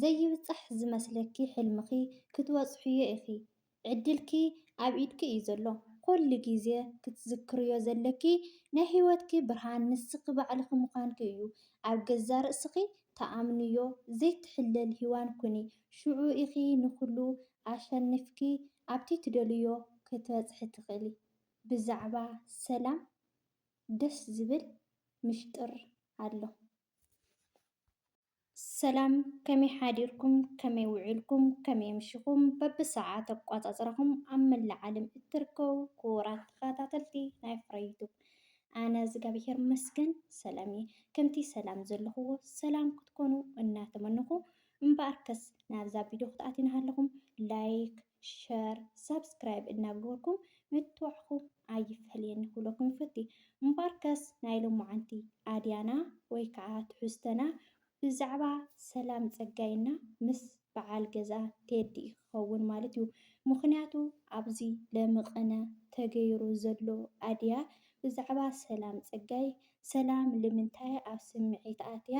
ዘይብጻሕ ዝመስለኪ ሕልምኺ ክትበጽሕዮ ኢኺ ዕድልኪ ኣብ ኢድኪ እዩ ዘሎ ኮሉ ግዜ ክትዝክርዮ ዘለኪ ናይ ሂወትኪ ብርሃን ንስኺ ባዕልኺ ምዃንኪ እዩ ኣብ ገዛ ርእስኺ ተኣምንዮ ዘይትሕለል ሂዋን ኩኒ ሽዑ ኢኺ ንኹሉ ኣሸኒፍኪ ኣብቲ ትደልይዮ ክትበጽሒ ትኽእሊ ብዛዕባ ሰላም ደስ ዝብል ምሽጥር ኣሎ። ሰላም ከመይ ሓዲርኩም ከመይ ውዒልኩም ከመይ ኣምሽኹም በብሰዓት ኣቋፃፅራኹም ኣብ መላእ ዓለም እትርከቡ ክቡራት ተኸታተልቲ ናይ ፍረ ዩቱብ ኣነ እግዚኣብሄር መስገን ሰላም እየ ከምቲ ሰላም ዘለኹዎ ሰላም ክትኮኑ እናተመንኹ እምበኣርከስ ናብዛ ቪድዮ ክትኣትዩና ሃለኹም ላይክ ሸር ሳብስክራይብ እናገበርኩም ምትብባዕኩም ኣይፈለየኒ ክብለኩም ይፈቲ። እምበኣርከስ ናይ ሎማዓንቲ ኣድያና ወይ ከዓ ትሕዝቶና ብዛዕባ ሰላም ፀጋይ እና ምስ በዓል ገዝኣ ቴዲ ክኸውን ማለት እዩ። ምኽንያቱ ኣብዚ ለምቕነ ተገይሩ ዘሎ ኣድያ ብዛዕባ ሰላም ፀጋይ ሰላም ልምንታይ ኣብ ስምዒት ኣትያ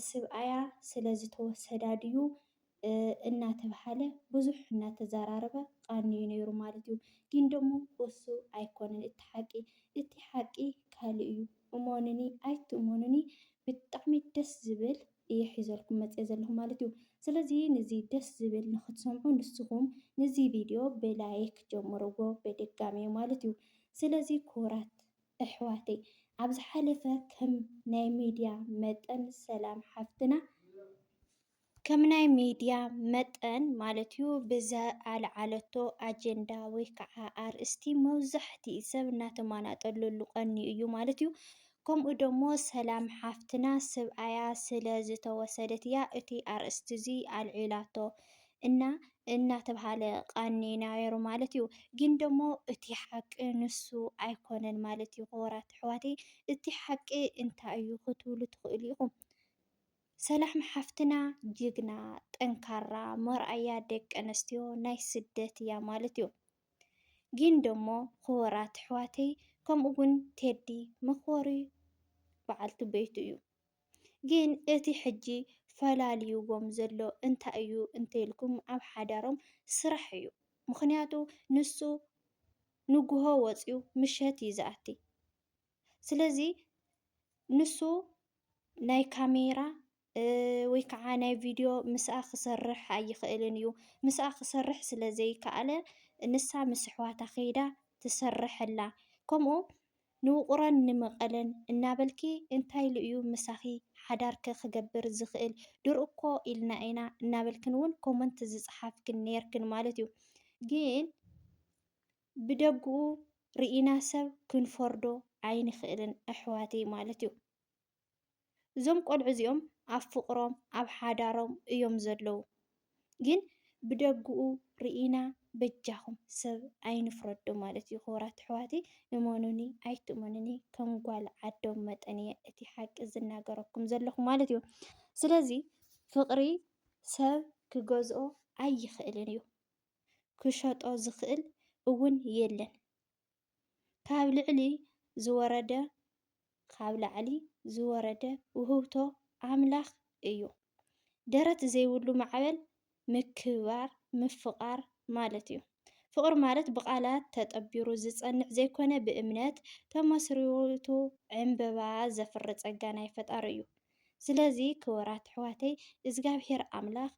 ስብኣያ ስለ ዝተወሰዳ ድዩ እናተብሃለ ብዙሕ እናተዘራረበ ቓንዩ ነይሩ ማለት እዩ። ግን ደሞ እሱ ኣይኮነን እቲ ሓቂ እቲ ሓቂ ካልእ እዩ እሞኑኒ ኣይትእሞኑኒ ብጣዕሚ ደስ ዝብል እየ ሒዘልኩም መፅየ ዘለኹ ማለት እዩ። ስለዚ ንዚ ደስ ዝብል ንክትሰምዑ ንስኹም ንዚ ቪድዮ ብላይክ ጀምርዎ በድጋሜ ማለት እዩ። ስለዚ ክቡራት እሕዋተይ ኣብ ዝሓለፈ ከም ናይ ሚድያ መጠን ሰላም ሓፍትና ከም ናይ ሚድያ መጠን ማለት እዩ ብዝኣልዓለቶ ኣጀንዳ ወይ ከዓ ኣርእስቲ መብዛሕትኡ ሰብ እናተማናጠለሉ ቀንዩ እዩ ማለት እዩ። ከምኡ ደሞ ሰላም ሓፍትና ስብኣያ ስለ ዝተወሰደት እያ እቲ ኣርእስቲ እዚ ኣልዒላቶ። እና እናተብሃለ ቃኒ ናይሩ ማለት እዩ። ግን ደሞ እቲ ሓቂ ንሱ ኣይኮነን ማለት እዩ ክቡራት ኣሕዋተይ እቲ ሓቂ እንታይ እዩ ክትብሉ ትኽእሉ ኢኹም። ሰላም ሓፍትና ጅግና ጠንካራ መርኣያ ደቂ ኣንስትዮ ናይ ስደት እያ ማለት እዩ። ግን ደሞ ክቡራት ኣሕዋተይ ከምኡ እውን ቴዲ መኽበሪ በዓልቲ ቤቱ እዩ። ግን እቲ ሕጂ ፈላልይዎም ዘሎ እንታይ እዩ እንተይልኩም ኣብ ሓዳሮም ስራሕ እዩ ምኽንያቱ ንሱ ንጉሆ ወፅዩ ምሸት እዩ ዝኣቲ ስለዚ ንሱ ናይ ካሜራ ወይ ከዓ ናይ ቪድዮ ምስኣ ክሰርሕ ኣይኽእልን እዩ ምስኣ ክሰርሕ ስለ ዘይከኣለ ንሳ ምስ ኣሕዋታ ከይዳ ትሰርሐላ ከምኡ ንውቕሮን ንመቐለን እናበልኪ እንታይ ኢሉ እዩ ምሳኺ ሓዳር'ከ ክገብር ዝኽእል ድር'ኮ ኢልና ኢና እናበልክን ውን ኮመንት ዝጸሓፍክን ኔርክን ማለት እዩ ግን ብደግኡ ርኢና ሰብ ክንፈርዶ ኣይንኽእልን ኣሕዋተይ ማለት እዩ። እዞም ቆልዑ እዚኦም ኣብ ፍቅሮም ኣብ ሓዳሮም እዮም ዘለዉ ግን ብደግኡ ሪኢና በጃኩም ሰብ ኣይንፍረዶ ማለት እዩ ክቡራት ኣሕዋተይ እመኑኒ ኣይትእመኑኒ ከም ጓል ዓዶም መጠን እየ እቲ ሓቂ ዝናገረኩም ዘለኹ ማለት እዩ ስለዚ ፍቅሪ ሰብ ክገዝኦ ኣይኽእልን እዩ ክሸጦ ዝኽእል እውን የለን ካብ ልዕሊ ዝወረደ ካብ ላዕሊ ዝወረደ ውህብቶ ኣምላኽ እዩ። ደረት ዘይብሉ ማዕበል ምክብባር ምፍቓር ማለት እዩ። ፍቕሪ ማለት ብቓላት ተጠቢሩ ዝጸንዕ ዘይኮነ ብእምነት ተመስሪቱ ዕንበባ ዘፍሪ ጸጋ ናይ ፈጣሪ እዩ። ስለዚ ክቡራት ኣሕዋተይ እዝጋብሄር ኣምላኽ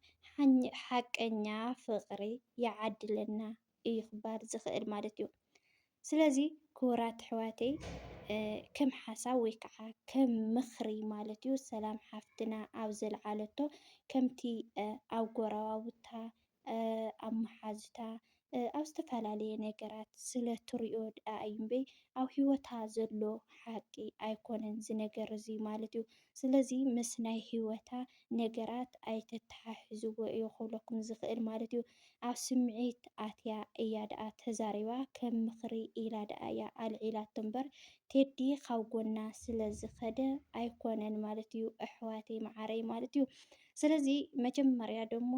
ሓቀኛ ፍቕሪ ይዓድለና እዩ ክበሃል ዝኽእል ማለት እዩ። ስለዚ ክቡራት ኣሕዋተይ ከም ሓሳብ ወይ ከዓ ከም ምኽሪ ማለት እዩ ሰላም ሓፍትና ኣብ ዘልዓለቶ ከምቲ ኣብ ጎረባብታ ኣብ መሓዙታ ኣብ ዝተፈላለየ ነገራት ስለ ትሪኦ ደኣ እዩ እምበይ ኣብ ህይወታ ዘሎ ሓቂ ኣይኮነን እዚ ነገር እዚ ማለት እዩ። ስለዚ ምስ ናይ ህይወታ ነገራት ኣይተተሓሕዝዎ እዩ ክብለኩም ዝኽእል ማለት እዩ። ኣብ ስምዒት ኣትያ እያ ደኣ ተዛሪባ ከም ምኽሪ ኢላ ደኣ እያ ኣልዒላቶ እምበር ቴዲ ካብ ጎና ስለ ዝኸደ ኣይኮነን ማለት እዩ ኣሕዋተይ መዓረይ ማለት እዩ። ስለዚ መጀመርያ ደሞ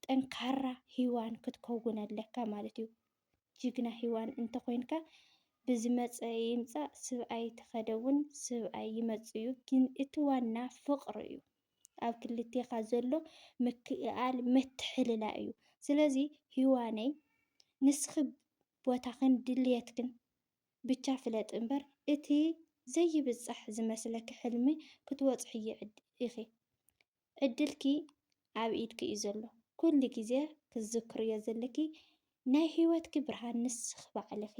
ጠንካራ ሂዋን ክትከውን ኣለካ ማለት እዩ። ጅግና ሂዋን እንተኮይንካ ብዝመፀ ይምፃእ ስብኣይ ተከደ እውን ስብኣይ ይመፅ እዩ ግን እቲ ዋና ፍቅሪ እዩ ኣብ ክልቴካ ዘሎ ምክእኣል ምትሕልላ እዩ ስለዚ ሂዋነይ ንስኪ ቦታክን ድልየትክን ብቻ ፍለጢ እምበር እቲ ዘይብፃሕ ዝመስለኪ ሕልሚ ክትወፅሕዮ ኢኪ ዕድልኪ ኣብ ኢድኪ እዩ ዘሎ ኩሉ ግዜ ክትዝክርዮ ዘለኪ ናይ ሂወትኪ ብርሃን ንስኪ ባዕልኪ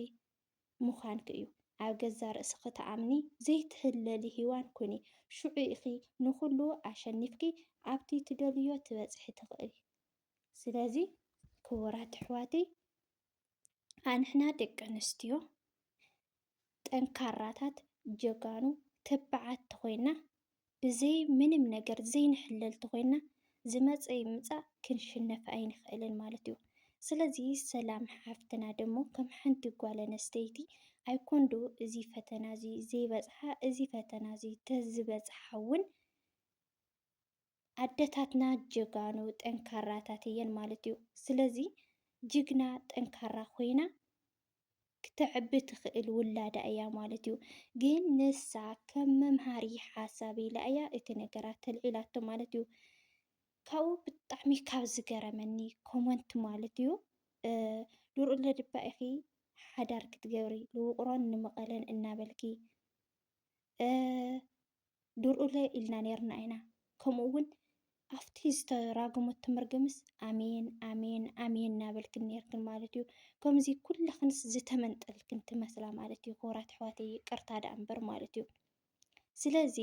ምኳንኪ እዩ ኣብ ገዛ ርእስኪ ተኣምኒ ዘይትህለሊ ሂዋን ኩኒ ሽዑ ኢኪ ንኩሉ ኣሸኒፍኪ ኣብቲ ትደልዮ ትበፅሒ ትክእሊ ስለዚ ክቡራት ኣሕዋተይ ኣንሕና ደቂ ኣንስትዮ ጠንካራታት ጀጋኑ ተባዓት ተኾይና ብዘይ ምንም ነገር ዘይንሕለል ተኾይና ዝመፀ ይምፃእ ክንሽነፍ ኣይንኽእልን ማለት እዩ። ስለዚ ሰላም ሓፍትና ደሞ ከም ሓንቲ ጓል ኣነስተይቲ ኣይኮንዶ እዚ ፈተና እዚ ዘይበፅሓ እዚ ፈተና እዚ ተዝበፅሓ እውን ኣደታትና ጀጋኑ ጠንካራታት እየን ማለት እዩ። ስለዚ ጅግና ጠንካራ ኮይና ክተዕቢ ትኽእል ውላዳ እያ ማለት እዩ። ግን ንሳ ከም መምሃሪ ሓሳብ ኢላ እያ እቲ ነገራት ተልዒላቶ ማለት እዩ። ካብኡ ብጣዕሚ ካብ ዝገረመኒ ኮመንት ማለት እዩ ድርኡ ለድባ ኢኺ ሓዳር ክትገብሪ ንውቕሮን ንመቐለን እናበልኪ ድርኡለ ኢልና ነይርና ኢና። ከምኡ እውን ኣብቲ ዝተራገመቶ መርገምስ ኣሜን ኣሜን ኣሜን እናበልክን ነርክን ማለት እዩ። ከምዚ ኩላክንስ ዝተመንጠልክን ትመስላ ማለት እዩ። ክቡራት ኣሕዋት ይቅርታ ደኣ እምበር ማለት እዩ። ስለዚ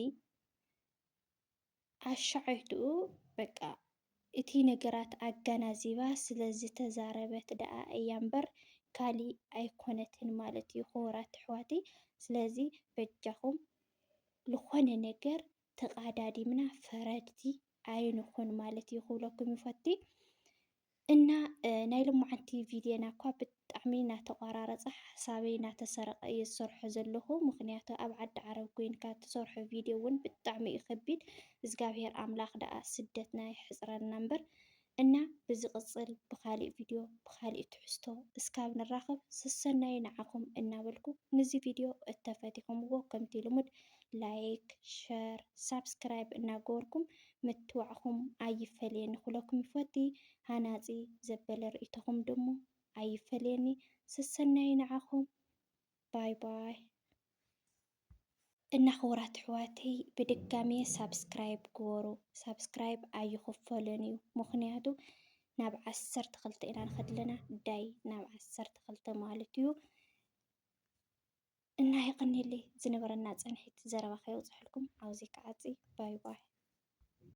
ኣሻዓይትኡ በቃ እቲ ነገራት ኣጋናዚባ ስለ ዝተዛረበት ደኣ እያ እምበር ካሊእ ኣይኮነትን ማለት እዩ ክቡራት ኣሕዋተይ ስለዚ በጃኹም ልኾነ ነገር ተቃዳዲምና ፈረድቲ ኣይንኹን ማለት እዩ ክብለኩም ይፈቲ እና ናይ ልሞዓንቲ ቪድዬና እኳ ብጣዕሚ ናተቋራረጸ ሓሳበይ ናተሰረቀ እየ ዝሰርሖ ዘለኩ ምክንያቱ ኣብ ዓዲ ዓረብ ኮይንካ ትሰርሖ ቪድዮ ውን ብጣዕሚ እዩ ከቢድ እዝጋብሄር ኣምላክ ደኣ ስደትና የሕጽረልና እምበር እና ብዝቅጽል ብካሊእ ቪድዮ ብካሊእ ትሕዝቶ እስካብ ንራከብ ሰሰናዩ ንዓኩም እናበልኩ ንዚ ቪድዮ እተፈቲኩምዎ ከምቲ ልሙድ ላይክ ሸር ሳብስክራይብ እናገበርኩም ምትብባዕኩም ኣይፈለየኒ ክብለኩም ይፈቲ ሃናጺ ዘበለ ርእይቶኹም ድሞ ኣይፈለየኒ ሰሰናዩ ንዓኹም ባይ ባይ። እና ክቡራት ኣሕዋተይ ብድጋሜ ሳብስክራይብ ግበሩ ሳብስክራይብ ኣይኽፈልን እዩ ምኽንያቱ ናብ ዓሰርተ ክልተ ኢና ንኸድ ኣለና ዳይ ናብ ዓሰርተ ክልተ ማለት እዩ እና የቐኒለይ ዝነበረና ጸንሒት ዘረባ ከየውጽሕልኩም ኣውዚ ክዓጺ ባይ ባይ